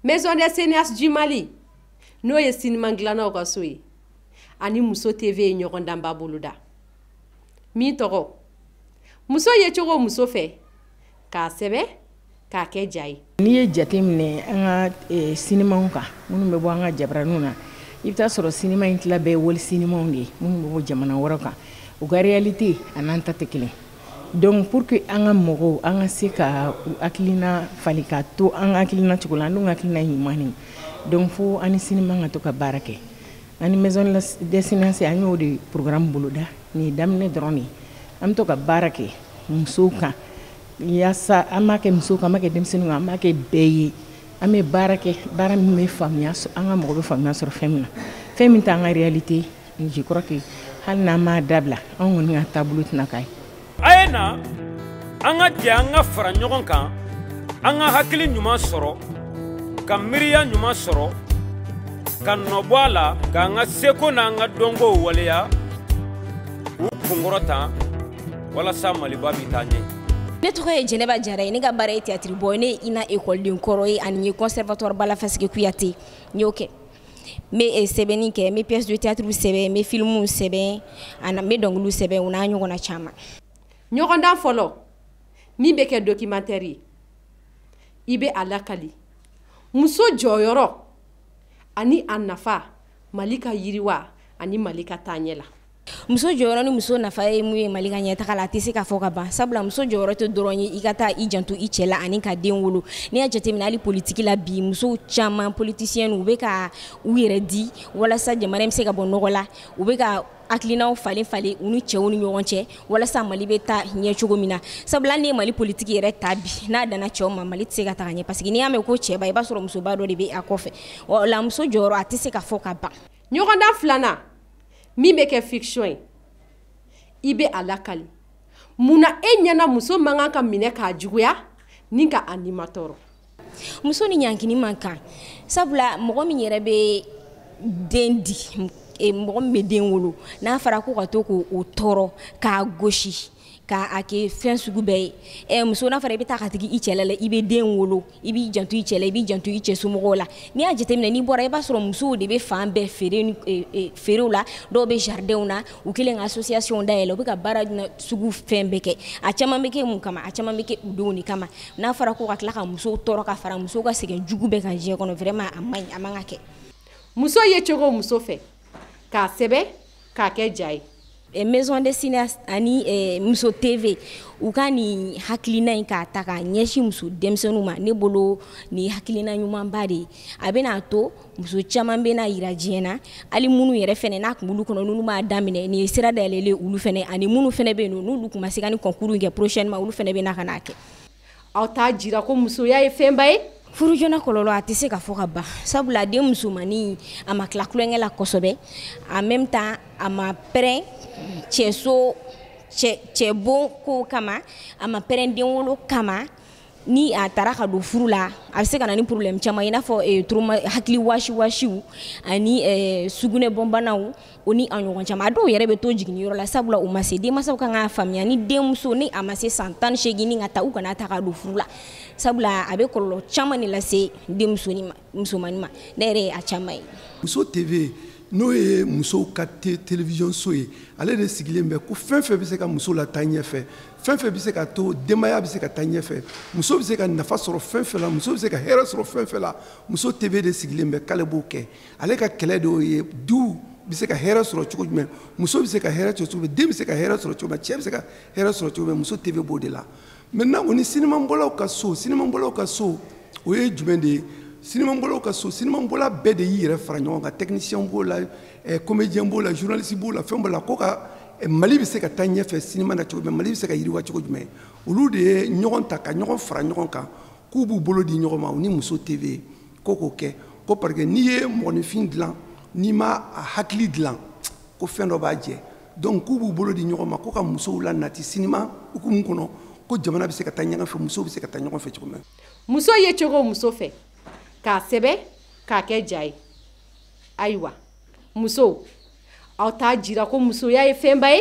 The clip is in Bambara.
Maison des cinéastes du Mali n'o ye siniman dilannaw ka so ye ani muso TV ye ɲɔgɔndanba boloda min tɔgɔ muso ye cogo muso fɛ k'a sɛbɛn k'a kɛ ja ye n'i ye jateminɛ an ka eh, sinimaw kan minnu bɛ bɔ an ka jabaraniw na i bɛ taa sɔrɔ sinima in tila bɛɛ ye wali sinimaw de ye minnu bɛ bɔ jamana wɛrɛ kan u ka réalité ani an ta tɛ kelen donc pour que an ka mɔgɔw an ka se ka u hakilina falen ka to an ka hakilina cogo la an dun ka hakilina ɲuman de donc fo an ni sinima ka to ka baara kɛ Ani maison des cinéastes an y'o de programme boloda nin ye daminɛ dɔrɔn de ye an bɛ to ka baara kɛ musow kan yaasa an b'a kɛ musow kan an b'a kɛ denmisɛnninw kan an b'a kɛ bɛɛ ye an bɛ baara kɛ baara min bɛ faamuya an ka mɔgɔ bɛ faamuya sɔrɔ fɛn min na fɛn min t'an ka réalité ye je crois que hali n'an m'a dabila anw kɔni ka taabolo tɛna k'a ye a ye na an ka jɛ an ka fara ɲɔgɔn kan an ka hakili ɲuman sɔrɔ ka miiriya ɲuman sɔrɔ ka nɔbɔ a la k'an ka seko n'an ka dɔnkow waleya k'u kunkɔrɔta walasa maliba bɛ taa ɲɛ ne tɔgɔ ye jɛnɛba jara ye ne ka baara ye tiyatiri bɔ ne ye INA ekɔliden kɔrɔ ye ani ye conservatoire bala faseke kuyate n y'o kɛ n bɛ sɛbɛnni kɛ n bɛ pièce de théâtre sɛbɛn n bɛ films sɛbɛn ani n bɛ dɔnkiliw sɛbɛn o n'a ɲɔgɔnna caman. ɲɔgɔndan fɔlɔ min bɛ kɛ documentaire ye i bɛ a lakali muso jɔyɔrɔ ani a nafa mali ka yiriwa ani mali ka taaɲɛ la. muso jɔyɔrɔ ni muso nafa ye mun ye mali ka ɲɛtaga la a tɛ se ka fɔ ka ban sabula muso jɔyɔrɔ tɛ dɔrɔn ye i ka taa i janto i cɛ la ani ka den wolo n'i y'a jateminɛ hali politiki la bi musow caman politisiyɛn u bɛ ka u yɛrɛ di walasa jamana in bɛ se ka bɔ nɔgɔ la u bɛ ka hakilinaw falen falen u ni cɛw ni ɲɔgɔn cɛ walasa mali bɛ taa ɲɛ cogo min na sabula n'i ye mali politiki yɛrɛ ta bi n'a danna cɛw ma mali tɛ se ka taga ɲɛ paseke n'i y'a mɛn ko cɛba i b'a sɔrɔ musoba dɔ de bɛ a kɔfɛ o la muso jɔyɔrɔ a tɛ se ka fɔ ka ban ɲɔgɔndan filanan min bɛ kɛ fiction ye i bɛ a lakali mun na e ɲɛna muso man kan ka minɛ k'a juguya ni ka a nimatɔɔrɔ muso ni ɲankini man kan sabula mɔgɔ min yɛrɛ bɛ den di e, mɔgɔ min bɛ den wolo n'a fɔra ko ka to k'o tɔɔrɔ k'a gosi k'a kɛ fɛn sugu bɛɛ ye eh, muso n'a fɔra i bɛ taa ka sigi i cɛla la i bɛ den wolo i b'i janto i cɛ la i b'i janto i cɛ somɔgɔw la n'i y'a jateminɛ n'i bɔra i b'a sɔrɔ musow de bɛ fan bɛɛ feereni eh, eh, feerew la dɔw bɛ jardinw na u kelen ka association dayɛlɛ u bɛ ka baara sugu fɛn bɛɛ kɛ a caman bɛ kɛ mun kama a caman bɛ kɛ u denw de kama n'a fɔra ko ka tila ka musow tɔɔrɔ ka fara musow ka sɛgɛn jugu bɛɛ kan diɲɛ kɔnɔ vraiment a man ɲi a man ka kɛ muso ye cogo muso fɛ k'a sɛbɛn k'a kɛ ja ye eh, maison des cinéastes ani eh, muso tv u ka nin hakilina in k'a ta k'a ɲɛsin muso denmisɛnninw ma ne bolo nin hakilina ɲumanba de ye a bɛna to muso caman bɛna yira diɲɛ na hali minnu yɛrɛ fɛnɛ n'a kun b'olu kɔnɔ n'olu m'a daminɛ nin ye sira dayɛlɛlen olu fɛnɛ ani minnu fɛnɛ bɛ yen nɔ n'olu kun ma se ka nin concours in kɛ prochainement olu fɛnɛ bɛ na ka n'a kɛ aw t'a jira ko musoya ye fɛnba ye furujona kɔlɔlɔ a tɛ se ka fɔ ka ban sabula den musomannin a ma tila tulonkɛ la kosɛbɛ en même temps a ma prêt cɛso cɛbon kow kama a ma prêt den wolo kama ni a taara ka don furu la a bɛ se ka na ni problème caman i n'a fɔ eh, hakili wasi wasiw ani eh, sugunɛbɔnbanaw o ni a ɲɔgɔn caman a dɔw yɛrɛ bɛ to jiginniyɔrɔ la sabula u ma se denmansaw kan k'a faamuya ni denmusonin a ma se san tan ni seegin ni ka taa u kan'a ta ka don furu la sabula a bɛ kɔlɔlɔ caman de lase denmusoni ma musomanni ma ne yɛrɛ ye a caman ye. muso tv n'o ye musow ka télévision so ye ale de sigilen bɛ ko fɛn fɛn bɛ se ka muso lataa ɲɛfɛ fɛn fɛn bɛ se ka to denbaya bɛ se ka taa ɲɛfɛ muso bɛ se ka nafa sɔrɔ fɛn fɛn la muso bɛ se ka hɛrɛ sɔrɔ fɛn fɛn la muso tv de sigilen bɛ k'ale b'o kɛ. ale ka kɛlɛ de y'o ye du bɛ se ka hɛrɛ sɔrɔ cogo jumɛn muso bɛ se ka hɛrɛ sɔrɔ cogo den bɛ se ka hɛrɛ sɔrɔ cogo cɛ bɛ se ka hɛrɛ sɔrɔ cogo muso tv b'o de la maintenant o ni sinimabɔlaw ka so sinimabɔlaw ka so o ye jumɛn de ye sinimabɔlaw ka so sinimabɔla bɛɛ de y'i yɛrɛ fara ɲɔgɔn kan technicien b'o la eh, comédien b'o la journaliste b'o la fɛn b'o la ko ka eh, mali bɛ se ka taa ɲɛfɛ sinima na cogo jumɛn mali bɛ se ka yiriwa cogo jumɛn olu de ye ɲɔgɔn ta ka ɲɔgɔn fara ɲɔgɔn kan k'u b'u bolo di ɲɔgɔn ma u ni muso tv ko k'o kɛ ko parce que n'i ye mɔgɔninfin dilan n'i ma a hakili dilan ko fɛn dɔ b'a jɛ donc k'u b'u bolo di ɲɔgɔn ma ko ka musow lanati sinima hukumu kɔnɔ ko jamana bɛ se ka taa ɲɔgɔn fɛ musow bɛ se ka taa ɲɔgɔn fɛ cogo min muso ye cogo muso fɛ k'a sɛbɛn k'a kɛ ja ye ayiwa muso aw t'a jira ko musoya ye fɛnba ye